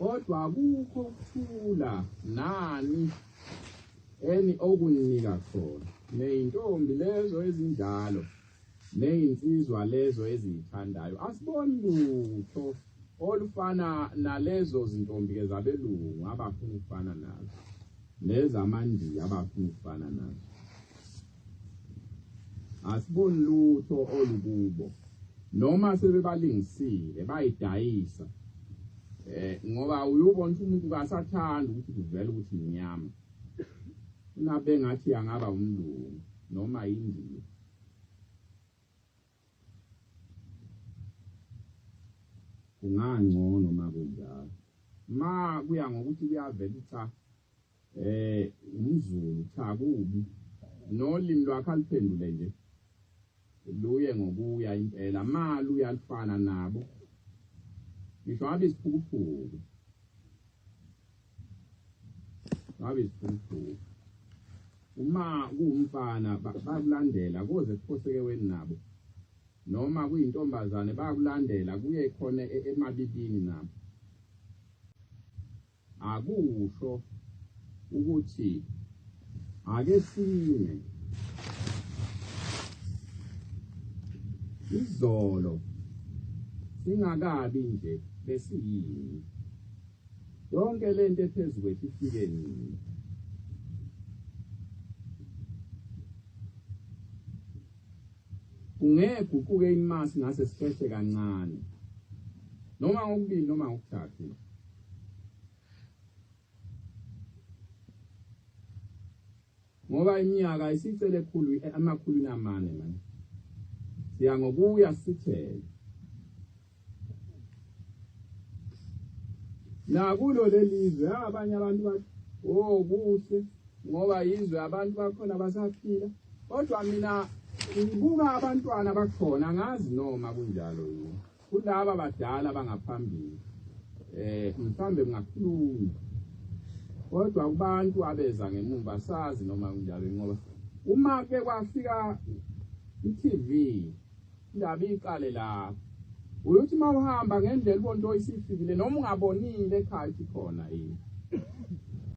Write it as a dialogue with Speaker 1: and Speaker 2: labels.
Speaker 1: kodwa akukho ukuthula nani eni okunginika khona neyintombi lezo ezinjalo neyinsizwa lezo eziyithandayo asiboni lutho olufana nalezo zintombi ke zabelungu abafuna ukufana nazo nezamandiya abafuna ukufana nazo asiboni lutho olukubo noma sebebalingisile bayidayisa eh ngoba uyubona ukuthi umuntu kasathanda ukuthi kuvele ukuthi inyama unabe ngathi angaba umlungu noma yindiya kungangcono makunjalo ma kuya ngokuthi kuyavela cha Eh umzulu cha kubi. Nolimi lwakhe aliphendule nje. Luye ngokuya impela mali uyalifana nabo. Ngisho abe isiphukuphuku. Abe isiphukuphuku. Uma kuwumfana bakulandela koze kuphoseke weni nabo. Noma kuyintombazane bakulandela kuye khona e-, emabibini nabo. Akusho ukuthi ake sime izolo singakabi nje besiyini yonke lento ephezulu kwethu ifike nini ungeke uquke imasi ngase sifehle kancane noma ngokubili noma ngokuthathu ngoba iminyaka isicele ekhulu amakhulu namane manje siya ngokuya sithele nakulo lelizwe abanye abantu bathi oh kuhle ngoba yizwe abantu bakhona basaphila kodwa mina ngibuka abantwana bakhona ngazi noma kunjalo yini kulaba badala bangaphambili eh mhlambe kungakhuluma kodwa kubantu abeza ngemumva sazi noma kunjalo ngoba uma ke kwafika iTV indaba iqale la uyothi mawuhamba ngendlela ubonto isifikile noma ungabonile ekhaya ikhona yini